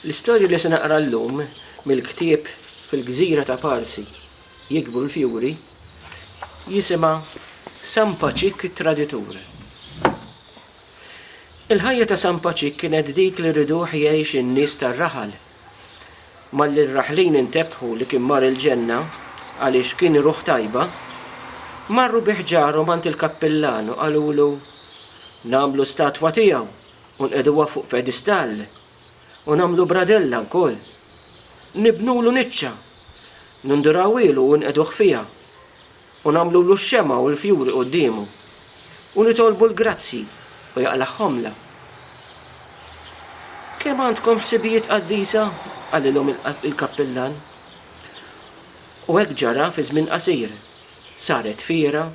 L-istorja li se naqra llum mill-ktieb Fil-Gżira ta' Parsi jikbru l-fjuri jisimha San Paċik it-Traditur. Il-ħajja ta' San Paċik kienet dik li rriduh jgħix in-nies tar-raħal. Malli r-raħlin intebħu li kien mar il-ġenna għaliex kien ruħ tajba, marru bi ħġarhom għand il-kappillan u qalulu, Nagħmlu statwa tiegħu u nqegħduha fuq pedistall, u nagħmlu bradella wkoll. Nibnulu niċċa, nindurawielu u nqegħduh fiha. u nagħmlulu x-xemgħa u l-fjuri quddiemu, u nitolbu l-grazzji u jaqlagħhomlna. Kemm għandkom ħsibijiet qaddisa? qalilhom il-kappillan. U hekk ġara fi żmien qasir. Saret fiera,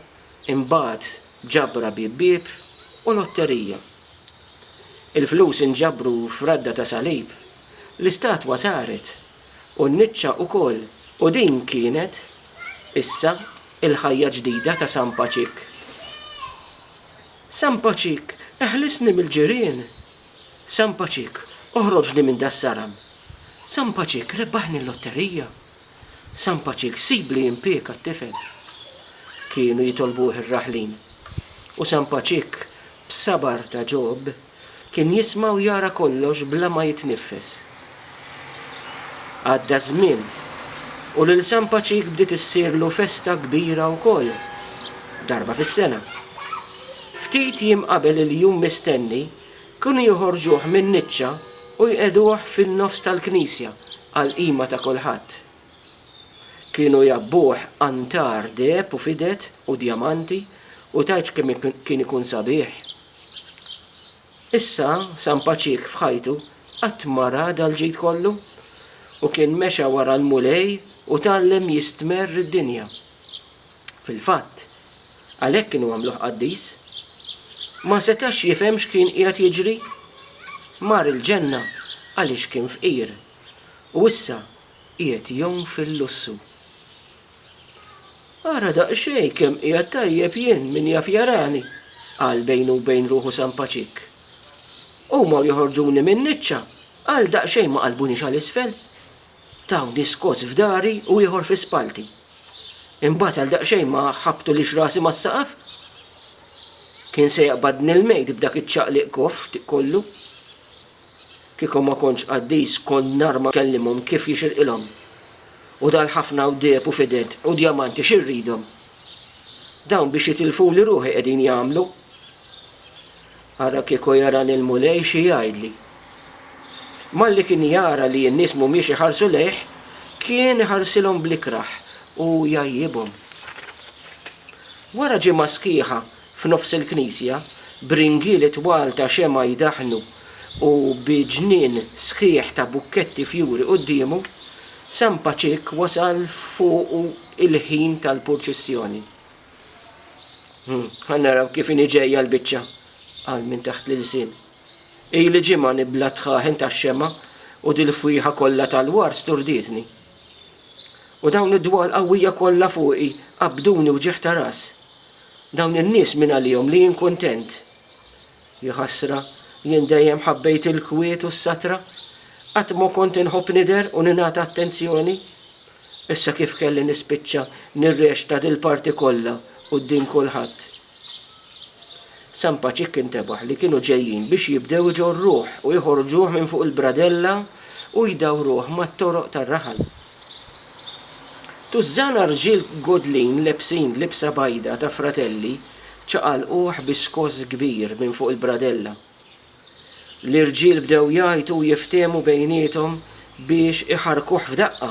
imbagħad ġabra bieb bieb u lotterija. Il-flus inġabru f'radda ta' salib L-istatwa saret, u n-niċċa wkoll, u din kienet, issa, il-ħajja ġdida ta' San Paċik. San Paċik, eħlisni mill-ġirien! San Paċik, oħroġni minn das-saram! San Paċik, rebbaħni l-lotterija! San Paċik, sib li jimpieka t-tifel! kienu jitolbuh ir-raħlin. U San Paċik, b'sabar ta' Ġob, kien jisma' u jara kollox bla ma jitniffes. Għadda ż-żmien, u lil San Paċik bdiet issirlu festa kbira wkoll, darba fis-sena. Ftit jiem qabel il-jum mistenni, Kienu joħorġuh min-niċċa u jqiegħduh fin-nofs tal-knisja għall-qima ta' kulħadd. Kienu jgħabbuh antar deheb u fided u djamanti u tgħidx kemm kien ikun sabiħ. Issa San Paċik f'ħajtu qatt ma ra dal-ġid kollu u kien mexa wara l-Mulej u tgħallem jistmerr id-dinja. Fil-fatt, għalhekk kienu għamluh qaddis. Ma setax jifhem x'kien qiegħed jiġri. Mar il-ġenna għaliex kien fqir, u issa qiegħed jgħum fil-lussu. Ara daqsxejn kemm qiegħed tajjeb jien, min jaf jarani, qal bejnu u bejn ruħu San Paċik. Huma u joħorġuni min-niċċa, għal daqsxejn ma qalbuniex għal isfel. Taw diskors f'dari u ieħor fi spalti. Imbagħad għal daqsxejn ma ħabbtulix rasi mas-saqaf. Kien se jaqbadni l-mejd b'dak iċ-ċaqliq koff kollu. Kieku ma kontx qaddis kont nar ma kellimhom kif jixirqilhom. U dal-ħafna wdieb u fided u djamanti xi rridhom? Dawn biex jitilfuli ruħi qegħdin jagħmlu. Ara kieku jarani l-Mulej xi jgħidli. Malli kien jara li n-nies m'humiex iħarsu lejh, kien iħarsilhom bl-ikrah u jgħajjibhom. Wara ġimgħa sħiħa f'nofs il-knisja, b'ringieli twal ta' xemgħa jdaħħnu u bi ġnien sħiħ ta' bukketti fjuri quddiemu, San Paċik wasal fuqu il-ħin tal-purċissjoni. Hmm, Għannaraw kif ini ġejja l-bicċa għal minn taħt l-ilsin. Ej li ġimma nibla tħaħen ta' xema u dil-fwiħa kollha tal-war sturditni. U dawn id-dwal qawwija kollha fuqi qabduni u ġeħ ta' ras. Dawn in-nies minn għalihom li jien kuntent. Jħassra, jien dejjem ħabbejt il-kwiet u s-satra, qatt ma kont inħobb nider u ningħata attenzjoni. Issa kif kelli nispiċċa nirreċta dil-parti kollha quddiem kulħadd? San Paċikk intebaħ li kienu ġejjin biex jibdew iġorruh u joħorġuh minn fuq il-bradella u jdawruh mat-toroq tar-raħal. Tużżana rġiel godlin lebsin libsa bajda ta' fratelli ċaqalquh bi skoss kbir minn fuq il-bradella. L-irġiel bdew jgħajtu u jiftiehmu bejniethom biex iħarrkuh f'daqqa.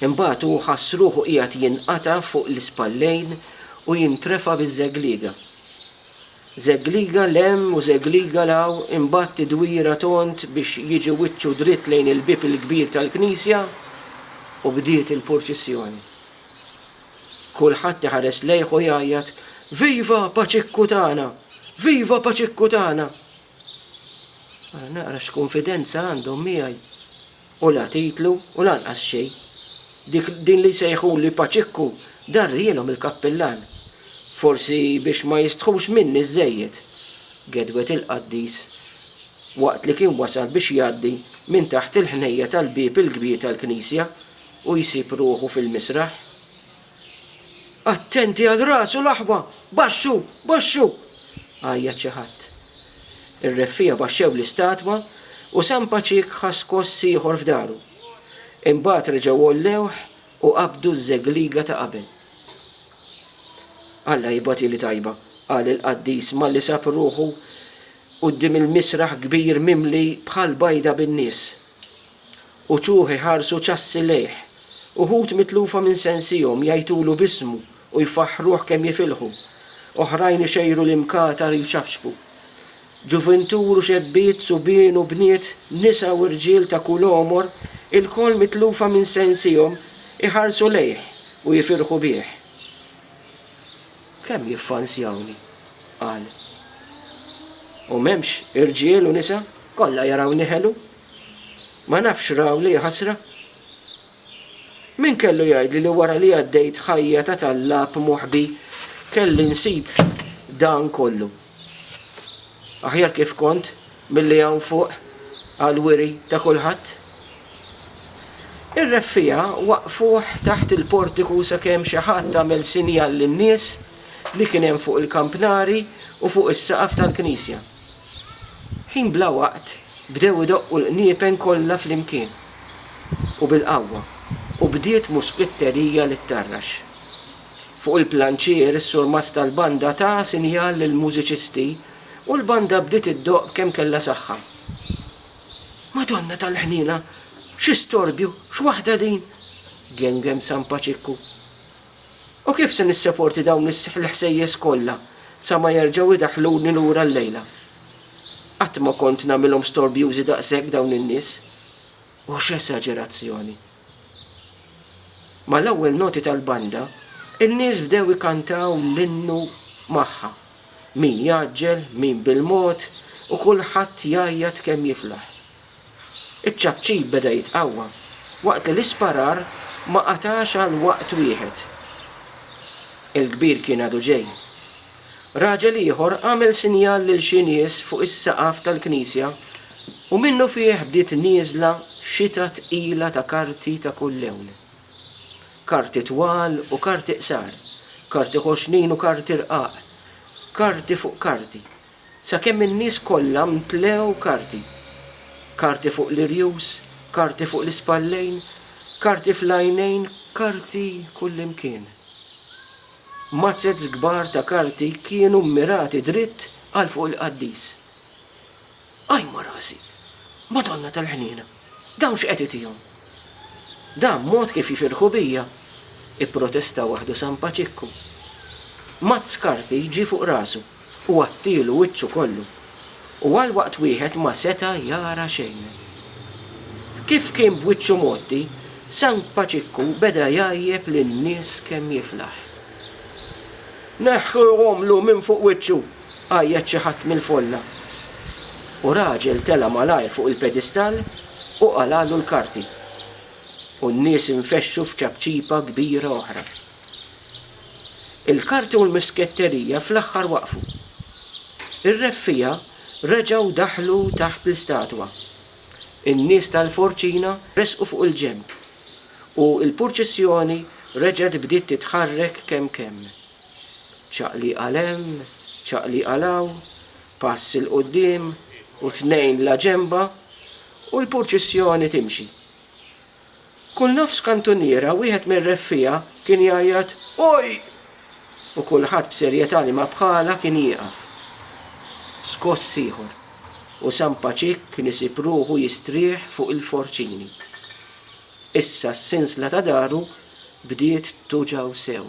Imbagħad hu ħass ruħu qiegħed jinqata' fuq l-ispallejn u jintrefa' biż-żegliga. Żegliga 'l hemm u żegliga 'l hawn imbagħad tidwira tond biex jiġi wiċċu dritt lejn il-bieb il-kbir tal-knisja u bdiet il-purċissjoni. Kulħadd iħares lejh u jgħajjat, Viva Paċikku tagħna! Viva Paċikku tagħna! Ara naqra x'kunfidenza għandhom miegħi. U la titlu u lanqas xejn. Dik din li jsejħuli Paċikku darrielhom il-kappillan. Forsi biex ma jistħux minni żejjed. Gedwet il-qaddis waqt li kien wasal biex jgħaddi minn taħt il-ħnejja tal-bieb il-kbir tal-knisja u jsib ruħu fil-misraħ. Attenti għal rasu l-aħwa! Baxxu! Baxxu! għajjat xi ħadd. Ir-reffiegħa baxxew l-istatwa u San Paċik ħa skoss ieħor f'daru. Imbagħad reġgħu għollewh u qabdu ż-żegliga ta' qabel. Alla jibgħatili tajba, qal il-qaddis malli sab ruħu quddiem il-misraħ kbir mimli bħall-bajda bin-nies. Uċuħ iħarsu ċassi lejh. Uħud mitlufa minn sensihom jgħajtulu b'ismu u jfaħħruh kemm jifilħu. Oħrajn ixejru l-imkatar jċappċpu. Ġuvintur u xebbiet, subien u bniet, nisa u rġiel ta' kull għomor, ilkoll mitlufa minn sensihom, iħarsu lejh u jifirħu bih. Kemm jiffansjawni! qal. U m'hemmx irġiel u nisa? Kollha jarawni ħelu? Ma nafx raw li ħasra? Min kellu jgħidli li wara li għaddejt ħajja ta' tallab moħbi kelli nsib dan kollu? Aħjar kif kont milli hawn fuq għal wiri ta' kulħadd? Ir-reffija waqfuh taħt il-portiku sakemm xi ħadd għamel sinjal lin-nies li kien hemm fuq il-kampnari u fuq is-saqaf tal-knisja. Ħin bla waqt bdew idoqqu l-qniepen kollha flimkien, u bil-qawwa, u bdiet muskitterija li ttarrax. Fuq il-planċier is-surmast tal-banda ta sinjal lill-mużiċisti u l-banda bdiet iddoqq b'kemm kellha saħħa. Madonna tal-Ħniena! Xi storbju, x'waħda din! gengem San Paċikku. U kif se nisseporti dawn l-ħsejjes kollha sa ma jerġgħu jdaħħluni lura llejla? Qatt ma kont nagħmilhom storbjużi daqshekk dawn in-nies. U x'esaġerazzjoni! Mal-ewwel noti tal-banda, in-nies bdew ikantaw l-innu magħha. Min jgħaġġel, min bil-mod, u kulħadd jgħajjat kemm jiflaħ. Iċ-ċapċip beda jitqawwa waqt li l-isparar ma qatax għal waqt wieħed. Il-kbir kien għadu ġej. Raġel ieħor għamel sinjal lil xi nies fuq is-saqaf tal-knisja u minnufih bdiet nieżla xita tqila ta' karti ta' kull lewn. Karti twal u karti qsar, karti ħoxnin u karti rqaq, karti fuq karti, Sakemm in-nies kollha mtlew karti. Karti fuq l-irjus, karti fuq l-ispallejn, karti fl-għajnejn, karti kullimkien. Mazzez kbar ta' karti kienu mmirati dritt għal fuq il-qaddis. Qajma rasi! Madonna tal-Ħniena! Dawn x'qed itihom? Dan mod kif jifirħu bija? ipprotesta waħdu San Paċikku. Mazz karti ġie fuq rasu. u għattielu wiċċu kollu, u għal waqt wieħed ma seta' jara xejn. Kif kien b'wiċċu mgħotti, San Paċikku beda jgħajjeb lin-nies kemm jiflaħ. Neħħu romlu minn fuq wiċċu! għajjat xi ħadd mill-folla, u raġel tela' malajr fuq il-pedistall u qalagħlu l-karti, u n-nies infexxu f'ċapċipa kbira oħra. Il-karti u l-misketterija fl-aħħar waqfu. Ir-reffiegħa reġgħu daħlu taħt l-istatwa. In-nies tal-forċina resqu fuq il-ġenb, u l-purċissjoni reġgħet bdiet titħarrek kemm kemm. Ċaqliq għal hemm, ċaqliq għal hawn, pass 'il quddiem u tnejn 'la ġenba, u l-purċissjoni timxi. Kull nofs kantuniera wieħed mir-reffiegħa kien jgħajjat Oj! u kulħadd b'serjetà li ma bħalha kien jieqaf. Skoss ieħor, u San Paċik kien isib ruħu jistrieħ fuq il-forċini. Issa s-sinsla ta' daru bdiet tuġgħu sew.